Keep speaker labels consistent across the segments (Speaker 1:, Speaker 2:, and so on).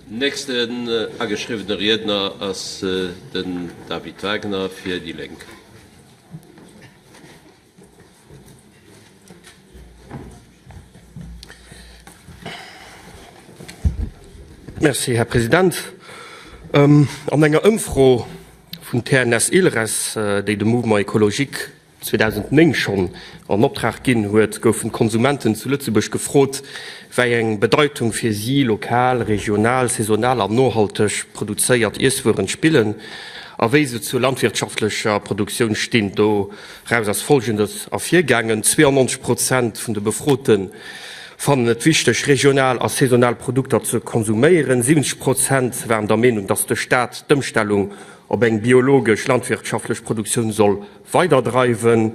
Speaker 1: Nächsten ageschriwwene Riedner ass den David Wagner fir déi Lénk.
Speaker 2: Merci, Här President. An enger Ëmfro vun TNS-Ilres, déi de Mouvement écologique 2009 schonn an Optrag ginn huet, goufen d'Konsumenten zu Lëtzebuerg gefrot, wei eng Bedeitung fir si lokal, regional, saisonal an nohalteg produzéiert Iesswueren spillen a wéi se zur landwirtschaftlecher Produktioun stinn. Doraus ass Folgendes ervirgaangen, 92 Prozent vun de Befroten fannen et wichteg, regional a saisonal Produkter ze konsuméieren, 70 Prozent waren der Meenung, datt de Staat d'Ëmstellung op eng biologesch landwirtschaftlech Produktioun soll weiderdreiwen.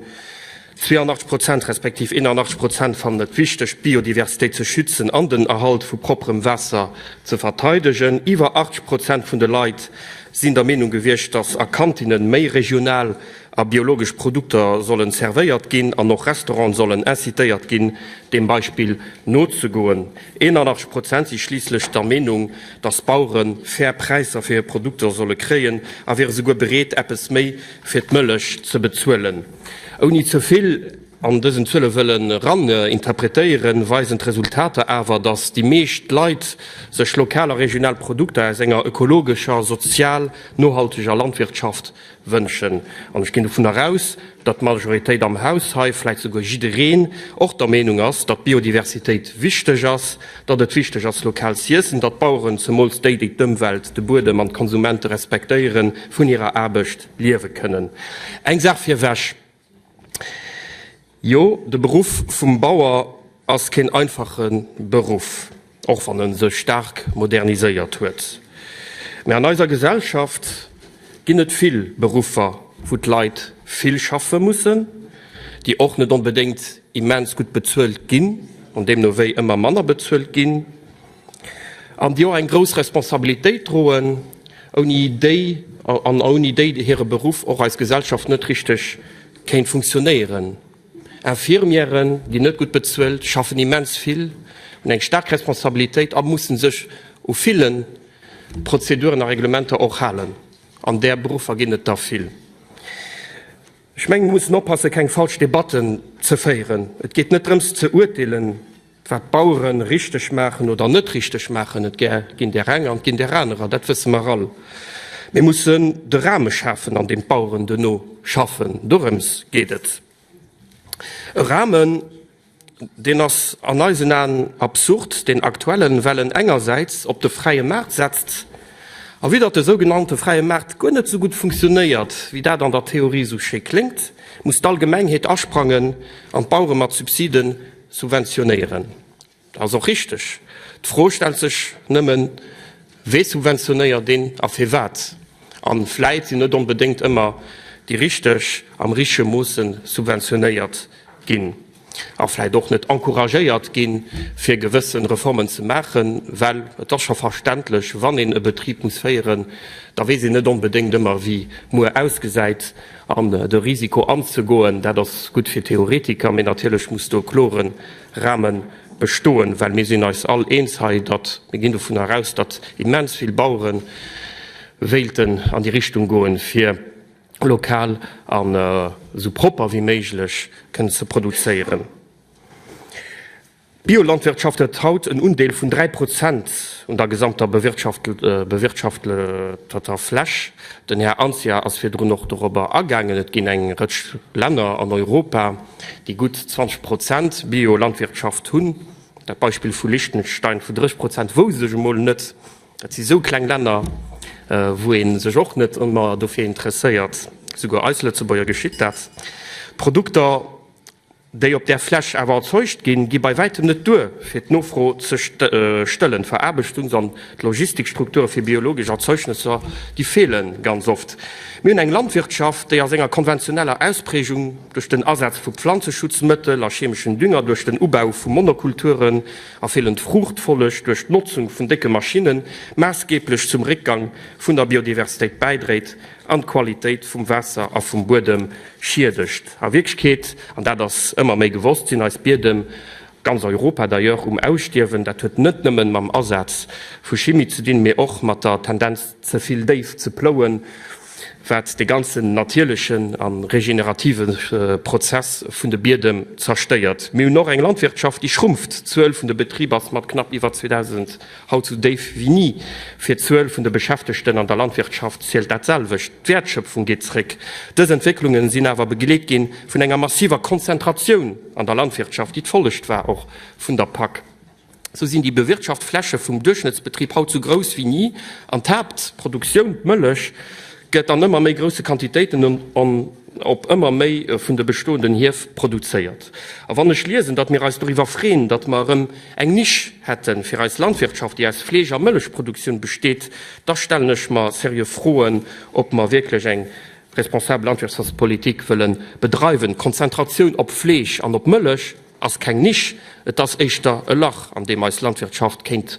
Speaker 2: 82 Prozent respektiv 81 Prozent fannen et wichteg, d'Biodiversitéit ze schützen an den Erhalt vu propperem Waasser ze verteidegen. Iwwer 80 Prozent vun de Leit sinn der Meenung gewiescht, datt a Kantinnen méi regional a biologesch Produkter sollen servéiert ginn an och Restauranten sollen incitéiert ginn, deem Beispill nozegoen. 81 Prozent si schliisslech der Meenung, datt d'Bauere fair Präisser fir hir Produkter solle kréien a wiere souguer bereet, eppes méi fir d'Mëllech ze bezuelen. Ouni ze vill an dësen Zuele wëlle raninterpretéieren, weisen d'Resultater awer, datt déi meescht Leit sech lokal a regional Produkter aus enger ökologescher, sozial nohalteger Landwirtschaft wënschen. An ech ginn dovunner aus, datt d'Majoritéit am Haus hei, vläicht souguer jiddereen, och der Meenung ass, datt d'Biodiversitéit wichteg ass, datt et wichteg ass, lokal z'iessen, datt d'Baueren, zemools déi, déi d'Ëmwelt, de Buedem an d'Konsumente respektéieren, vun hirer Aarbecht liewe kënnen. Eng Saach virwech, Jo, de Beruff vum Bauer ass keen einfache Beruff, och wann e sech staark moderniséiert huet, mä an eiser Gesellschaft Ginn et vill Beruffer, wou d'Leit vill schaffe mussen, déi och net onbedéngt immens gutt bezuelt ginn an deemno wéi ëmmer manner bezuelt ginn an déi och eng grouss Responsabilitéit droen, ouni déi an ouni déi hire Beruff och eis Gesellschaft net richteg kéint funktionéieren? Infirmièren ginn net gutt bezuelt, schaffen immens vill, hunn eng staark Responsabilitéit a mussen sech u ville Prozeduren a Reglementer och halen. An där Beruffer ginn et der vill. Ech mengen, mir mussen oppassen, keng falsch Debatten ze féieren. Et geet net drëms ze urteelen. Wat d'Bauere richteg maachen oder net richteg maachen, et ginn där eng an et ginn där anerer, dat wësse mer all. Mir mussen de Rahme schafen, an deem d'Baueren duerno schaffen. Dorëms geet et. E Rahmen, deen ass an eisen Aen absurd, deen aktuellen, well en engersäits op de fräie Maart setzt a widder de sougenannte fräie Maart guer net esou gutt funktionéiert, wéi dat an der Theorie esou schéi kléngt, muss d'Allgemengheet asprangen an d'Bauere mat Subsiden Subventionéieren ass och richteg. D'Fro stellt sech nëmmen, Wee subventionéiert een a firwat? A vläit sinn net onbedéngt ëmmer déi Richteg am richtege Moosse subventionéiert ginn a vläit och net encouragéiert gi fir gewësse Reformen ze maachen. Well et ass scho verständlech, wann een e Betrib muss féieren, da weess een net onbedéngt ëmmer, wéi muer ausgesäit. An de Risiko anzegoen, dat ass gutt fir Theoretiker, mee natierlech muss do e klore Rahme bestoen, well mir sinn eis all eens hei, datt mir ginn dovun eraus, datt immens vill Bauere wéilten an déi Richtung goen, fir lokal an esou propper wéi méiglech kënnen ze produzéieren. D'Biolandwirtschaft huet haut en Undeel vun 3 Prozent un der gesamter bewirtschafteter Fläch. Den Här Anzia ass virdrun och dorobber agaangen. Et ginn eng Rëtsch Länner an Europa, déi gutt 20 Prozent Biolandwirtschaft hunn. Dat Beispill vu Liechtenstein vu 30 Prozent wousst ech emol net. Dat si sou kleng Länner, wou ee sech och net ëmmer dofir interesséiert. Souguer eis Lëtzebuerger geschitt dat. D'Produkter. déi op där Fläch awer erzeugt ginn, gi bei wäitem net duer, fir d'Nofro ze stëllen. D'Veraarbechtungs an d'Logistikstrukture fir biologesch Erzeugnësser, déi feele ganz oft. Mir hunn eng Landwirtschaft, déi a senger konventioneller Ausprägung duerch den Asaz vu Pflanzeschutzmëttel a chemeschen Dünger, duerch den Ubau vu Monokulturen a feelend Fruuchtfolleg, duerch d'Notzung vun décke Maschinnen, maassgeeblech zum Réckgang vun der Biodiversitéit bäidréit. an d'Qualitéit vum Waasser a vum Buedem schiedegt. A Wierklechkeet, an dat ass ëmmer méi gewosst, sinn eis Biedem, ganz Europa d'ailleurs, um Ausstierwen. Dat huet net nëmmen mam Asaz vu Chimie ze dinn, mee och mat der Tendenz ze vill déif ze plouen, wat de ganzen natierlechen a regenerative Prozess vun de Biedem zerstéiert. Mir hunn och eng Landwirtschaft, déi schrumpft, d'Zuel vun de Betriber ass mat knapp iwwer 2000. Haut sou déif wéi ni. Fir d'Zuel vun de Beschäftegten an der Landwirtschaft zielt dat selwecht, d'Wäertschëpfung geet zréck. Dës Entwécklungen sinn awer begleet gi vun enger massiver Konzentratioun an der Landwirtschaft, déi d'Follecht war och vun der PAK. Sou sinn déi bewirtschaft Fläche vum Duerchschnëttsbetrib haut sou grouss wéi ni an d'Haaptproduktioun, d'Mëllech, gëtt an ëmmer méi grousse Quantitéiten op ëmmer méi vun de bestoenden Hief produzéiert. A wann ech liesen, datt mir eis doriwwer freeën, datt mer erëm eng Nisch hätte fir eis Landwirtschaft, déi aus Fleesch a Mëllechproduktioun besteet, da stellen ech mer seriö Froen, ob mer wierklech eng responsabel Landwirtschaftspolitik wëlle bedreiwen. D'Konzentratioun op Fleesch an op Mëllech ass keng Nisch, et ass éischter e Lach, an deem eis Landwirtschaft kéint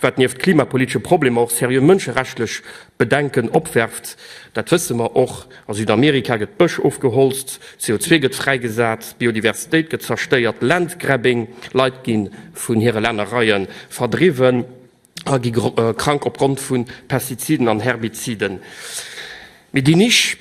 Speaker 2: Wat nieft klimapolitesche Problemer och seriö mënscherechtlich Bedenken opwerft. Dat wësse mer och, A Südamerika gëtt Bësch ofgeholzt, CO2 gëtt fräigesat, Biodiversitéit gëtt zerstéiert, Landgrabbing, Leit gi vun hire Lännereie verdriwwen a gi krank opgrond vu Pestiziden an Herbiziden. Mee déi Nisch.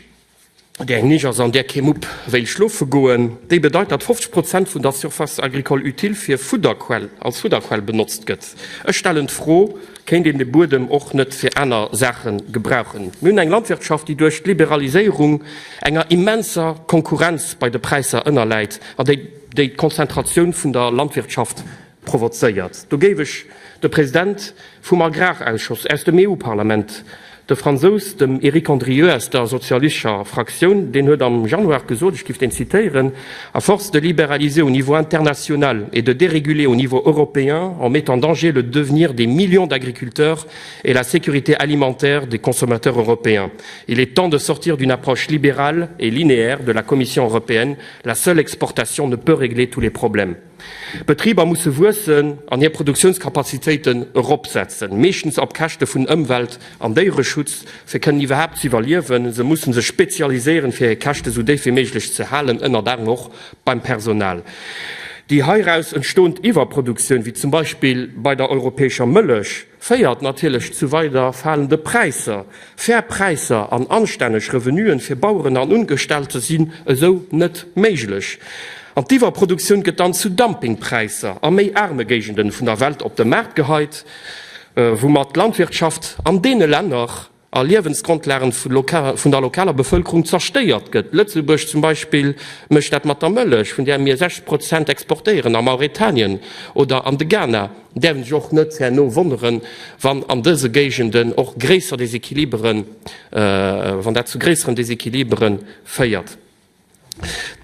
Speaker 2: Déi eng Nich ass an där kee Mupp wéilt schlofe goen. Déi bedeit, datt 50 Prozent vun der Surface agricole utile fir Fudderquell, als Fudderquell benotzt gëtt. Ech stellen d'Fro, Kéint een de Buedem och net fir aner Saache gebrauchen? Mir hunn eng Landwirtschaft, déi duerch d'Liberaliséierung enger immenser Konkurrenz bei de Präisser ënnerläit an déi déi d'Konzentratioun vun der Landwirtschaft provozéiert. Do géif ech de President vum Agrarausschoss aus dem EU-Parlament, de Fransous, dem Eric Andrieu aus der sozialischer Fraktioun, deen huet am Januar gesot, ech giff deen zitéieren, À force de libéraliser au niveau international et de déréguler au niveau européen, on met en danger le devenir des millions d'agriculteurs et la sécurité alimentaire des consommateurs européens. Il est temps de sortir d'une approche libérale et linéaire de la Commission européenne. La seule exportation ne peut régler tous les problèmes. D'Betriber musse wuessen an hir Produktiounskapazitéiten eropsetzen, meeschtens op Käschte vun Ëmwelt an Déiereschutz, fir kënnen iwwerhaapt ze iwwerliewen. Se mussen sech spezialiséieren, fir hir Käschte sou déif wéi méiglech ze halen, ënnert anerem och beim Personal. Déi heiraus entstoend Iwwerproduktioun, wéi zum Beispill bei der europäescher Mëllech, féiert natierlech zu weider falende Präisser. Fair Präisser an anstänneg Revenuen fir Baueren an Ungestellte sinn esou net méiglech. An d'Iwwerproduktioun gëtt dann zu Dumpingpräisser a méi aarme Géigenden vun der Welt op de Maart geheit, woumat d'Landwirtschaft an deene Länner a Liewensgrondlagen vun der lokaler Bevëlkerung zerstéiert gëtt. Lëtzebuerg zum Beispill mécht dat mat der Mëllech, vun där mir 60 Prozent exportéieren a Mauretanien oder an de Ghana. Däerf een sech och net herno wonneren, wann an dëse Géigenden och gréisser Desequiliberen, wann dat zu gréisseren Desequilibere féiert.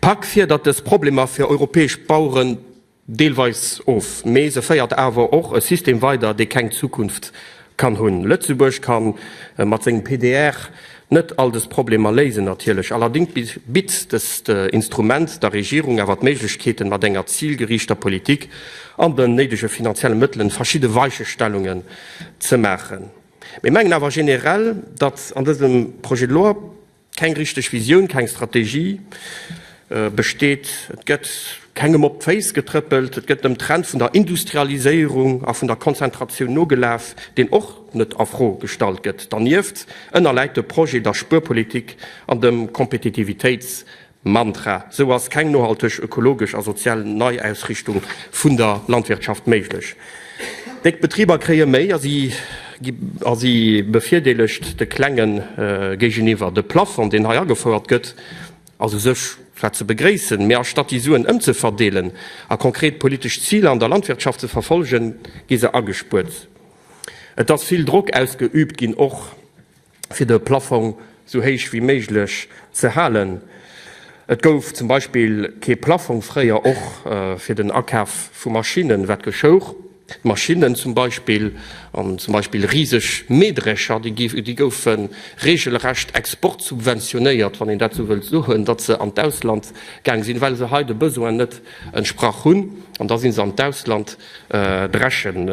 Speaker 2: D'PAK fierdert dës Problemer fir europäesch Baueren Deelweis of, mee se féiert awer och e System weider, dee keng Zukunft kann hunn. Lëtzebuerg ka mat sengem PDR net all dës Problemer léisen, natierlech allerdings bitt dëst Instrument der Regierung awer d'Méiglechkeeten, mat enger zilgeriichter Politik an den néidege finanzielle Mëttelen verschidde Weichestellungen ze maachen. Mir mengen awer generell, datt an dësem Projet de loi, Keng richteg Visioun, keng Strategie besteet, et gëtt kengem op d'Féiss getrëppelt, et gëtt dem Trend vun der Industrialiséierung a vun der Konzentratioun nogelaf, deen och net a Fro gestallt gëtt. Dernieft ënnerläit de Projet der Spuerpolitik an dem Kompetitivitéits Mantra, sou ass keng nohalteg, ökologesch a sozial Neiausrichtung vun der Landwirtschaft méiglech. Déck Betriber kréie méi a si gi a si bevirdeelegt de Klenge géigeniwwer. De Plafond, deen hei agefouert gëtt, ass u sech zwar ze begréissen, mee astatt déi Suen ëmzeverdeelen a konkret politesch Ziler an der Landwirtschaft ze verfolgen, gi se agespuert. Et ass vill Drock ausgeüübt ginn, och. fir de Plaffong sou héich wéi méiglech ze halen. Et gouf zum Beispill kee Plaffong fréier och fir den Akaf vu Maschinnen, wat geschouch? Maschinnen zum Beispill, an zum Beispill riseg Mähdrescher, déi goufe regelrecht exportsubventionéiert, wann een dat sou wëllt soen, datt se an d'Ausland gaang sinn, well se hei de Besoine net entsprach hunn, an da si se an d'Ausland. drechen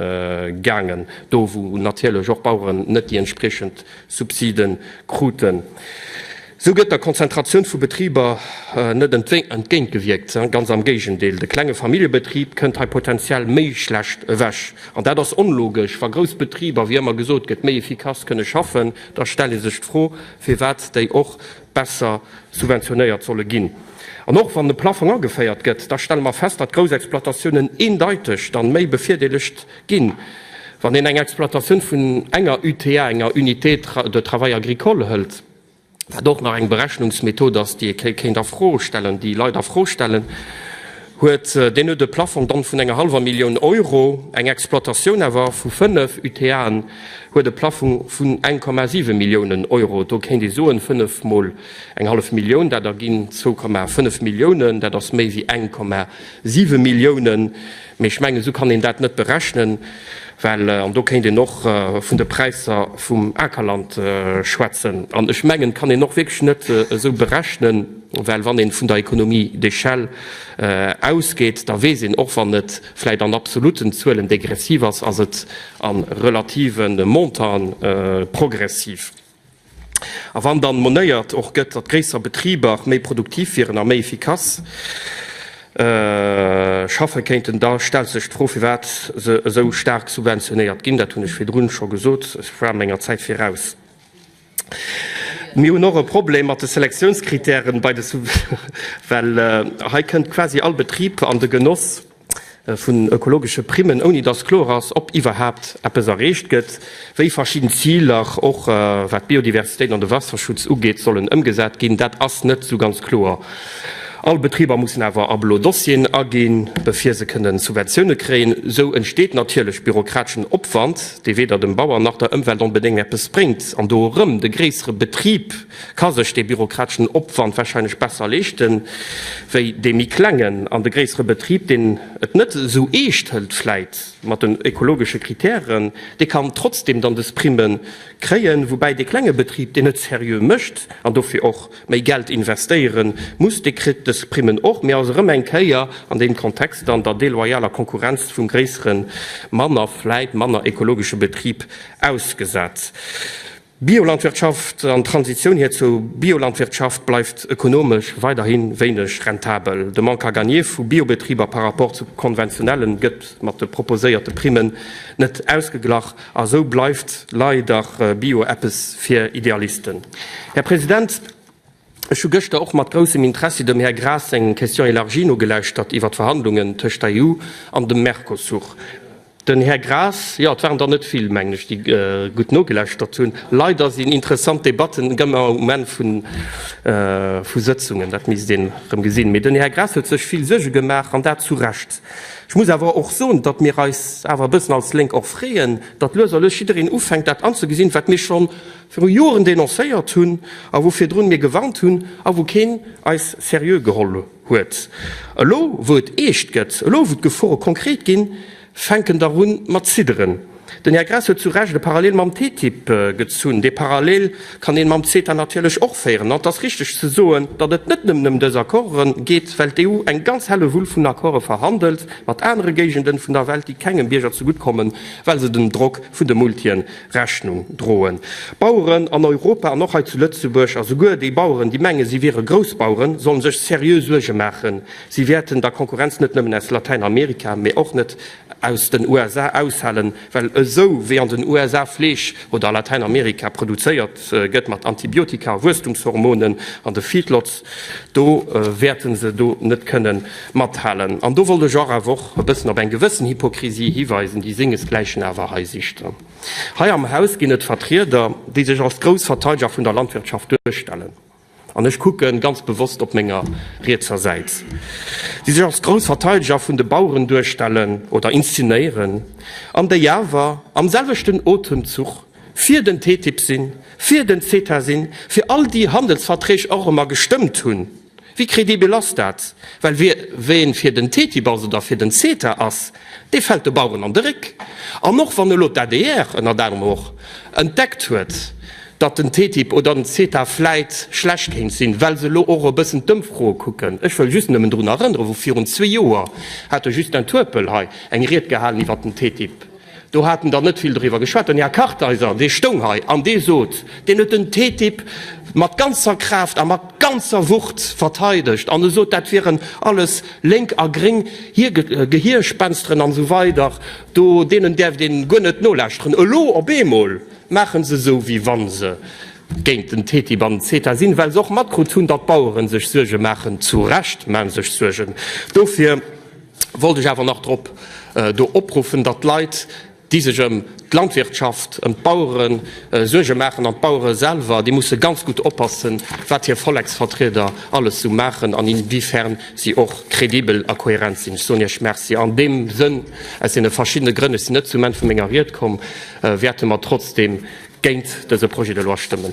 Speaker 2: gaangen, do wou natierlech och d'Baueren net déi entspriechend Subside kruten. Esou gëtt der Konzentratioun vu Betriber net entgéintgewierkt, ganz am Géigendeel, de klenge Familljebetrib kënnt hei potenziell méi schlecht ewech. An dat ass onlogesch, wa grouss Betriber, wéi ëmmer gesot gëtt, méi efficace kënne schaffen, da stellt ee sech d'Fro, firwat déi och besser subventionéiert solle ginn. An och wann de Plaffong ageféiert gëtt, da stelle mer fest, datt grouss Exploitatiounen eendeiteg dann méi bevirdeelegt ginn. Wann een eng Exploitatioun vun enger UTA, enger Unité de travail agricole, hëlt, wat och nach eng Berechnungsmethod ass, déi ee kéint a Fro stellen, déi Leit a Fro stellen, huet deen huet e Plafong dann vun enger hallwer Millioun Euro, eng Exploitatioun awer vu fënnef UTAen huet e Plafong vun 1,7 Milliounen Euro. Do kéint ee soen, fënnef mol eng hallef Millioun, dat erginn zwou Komma fënnef Milliounen, dat ass méi wéi 1,7 Milliounen. Mee ech mengen, esou kann een dat net berechnen, well, an do kéint een och vun de Präisser vum Akerland schwätzen, an ech mengen, et kann een och wierklech net esou berechnen, Well wann ee vun der Économie d'échelle ausgeet, da weess een, och wann et vläicht an absoluten Zuelen degressiv ass, ass et a relative Montanten progressiv. A wann dann monéiert och gëtt, datt gréisser Betriber méi produktiv wieren a méi efficace schaffe kéinten, da stellt sech d'Fro, firwat se esou staark subventionéiert ginn. Dat hunn ech virdrun scho gesot, ech war menger Zäit viraus. Mir hunn och e Problem mat de Selektiounscritèren bei de Subventionne, well hei kënnt quasi all Betrib an de Genoss vun ökologesche Primmen, ouni dass kloer ass, ob iwwerhaapt eppes erreecht gëtt, wéi verschidden Ziler, och wat d'Biodiversitéit an de Waasserschutz ugeet, sollen ëmgesat ginn. Dat ass net esou ganz kloer. All Betriber mussen awer a blo Dossieren aginn, bevir se kënnen Subventioune kréien. Esou entsteet natierlech bürokrateschen Opwand. dee weder dem Bauer nach der Ëmwelt onbedéng eppes bréngt an do erëm, de gréissere Betrib ka sech dee bürokratischen Opwand wahrscheinlech besser leeschten wéi dee méi klengen an de gréissere Betrib, deen et net esou eescht hëlt vläit mat den ökologische Kritären, dee kann trotzdem dann des Primen kréien, woubäi dee klenge Betrib, deen et seriö mécht an dofir och. Méi Geld investéieren muss. Dee kritt dës Primmen och, mee ass erëm eng Kéier an deem Kontext an der deloyaler Konkurrenz vum gréisseren, manner, vläit manner ekologesche Betrib ausgesat. Biolandwirtschaft an d'Transitioun hir zur Biolandwirtschaft bleift ökonomesch weiderhi wéineg rentabel. De Manque à gagner vu Biobetriber par rapport zu konventionellen gëtt mat de proposéierte Primmen net ausgeglach. A sou bleift lei der Bio eppes fir Idealisten. Här President, ech hu gëschter och mat groussem Interessi dem Här Graas seng Question élargie nogelauschtert iwwert d'Verhandlungen tëscht der EU an dem Mercosur. Den Här Graas, jo, et waren der net vill, mengen ech, déi gutt nogelauschtert hunn. Leider sinn interessant Debatten ëmmer um Enn vu Sëtzungen, dat misst een erëm gesinn. Mee den Här Graas huet sech vill Suerge gemaach, an dat zu Recht. Ech muss awer och soen, datt mir eis awer e bëssen als Lénk och freeën, datt lues a lues jiddereen ufänkt, dat anzëgesinn, wat mir scho viru Joren denoncéiert hunn a wou virdrun mir gewarnt hunn a wou keen eis seriö geholl huet. Elo wou et eescht gëtt, elo wou d'Gefore konkret ginn, fänken der un mat zidderen. Den Här Graas huet zu Recht e Parallel mam TTIP gezunn. Dee Parallel kann een mam CETA natierlech och féieren. An et ass richteg ze soen, datt et net nëmmen ëm dës Accordë geet, well d'EU eng ganz Hellewull vun Accordë verhandelt mat anere Géigenden vun der Welt, déi kengem Bierger zegutt kommen, well se dem Drock vun de Multien Rechnung droen. D'Baueren an Europa an och hei zu Lëtzebuerg, a souguer déi Baueren, déi menge si wiere Groussbaueren, sollen sech seriö Suerge maachen. Si wäerten da Konkurrenz net nëmmen aus Latäinamerika, mee och net aus den USA aushalen, well esou wéi an den USA Fleesch oder a Latäinamerika produzéiert gëtt mat Antibiotika, Wuesstumshormonen an de Feedlots, do wäerte se do net kënne mathalen. An do wollt ech och awer och e bëssen op eng gewëssen Hypokrisie hiweisen, déi sengesgläichen awer hei sicht. Hei am Haus ginn et Vertrieder, déi sech als grouss Verteideger vun der Landwirtschaft duerstellen. An ech kucken ganz bewosst op menger rietser Säit, déi sech als grouss Verteideger vun de Baueren duerstellen oder inszenéieren, an déi awer am selwechten Otemzuch fir den TTIP sinn, fir den CETA sinn, fir all déi Handelsverträg och ëmmer gestëmmt hunn. Wéi credibel ass dat? Well wien fir den TTIP ass oder fir den CETA ass, Dee fält de Baueren an de Réck. An och wann elo d'ADR, ënnert anerem och, entdeckt huet, datt den TTIP oder den CETA vläit schlecht kéint sinn, well se elo och e bëssen d'Ëmfroe kucken, ech wëll just nëmmen drun erënnere wou virun zwee Joer hat de Justin Turpel hei eng Ried gehalen iwwert den TTIP, do hat en dann net vill doriwwer geschwat. Den Här Kartheiser, dee stoung hei an dee sot, deen huet den TTIP mat ganzer Kraaft a mat ganzer Wucht verteidegt an e sot, dat wieren alles, Lénk a Gréng, hir Gehierspensteren an esou weider, do deenen däerft een guer net nolauschteren. Elo op eemol maachen se esou wéi wann se géint den TTIP an den CETA sinn, well se och matkrut hunn, datt d'Baueren sech Suerge maachen. Zu Recht maachen se sech Suergen. Dofir wollt ech awer nach drop do opruffen, datt d'Leit, déi sech ëm d'Landwirtschaft, ëm d'Bauere Suerge maachen an d'Bauere selwer, déi musse ganz gutt oppassen, wat hir Volleksvertrieder alles esou maachen an inwiefern si och kredibel a kohärent sinn. Ech soen Iech Merci an deem Sënn. Aus deene verschiddene Grënn, ech sinn net zum Enn vu menger Ried komm, wäerte mer trotzdeem géint dëse Projet de loi stëmmen.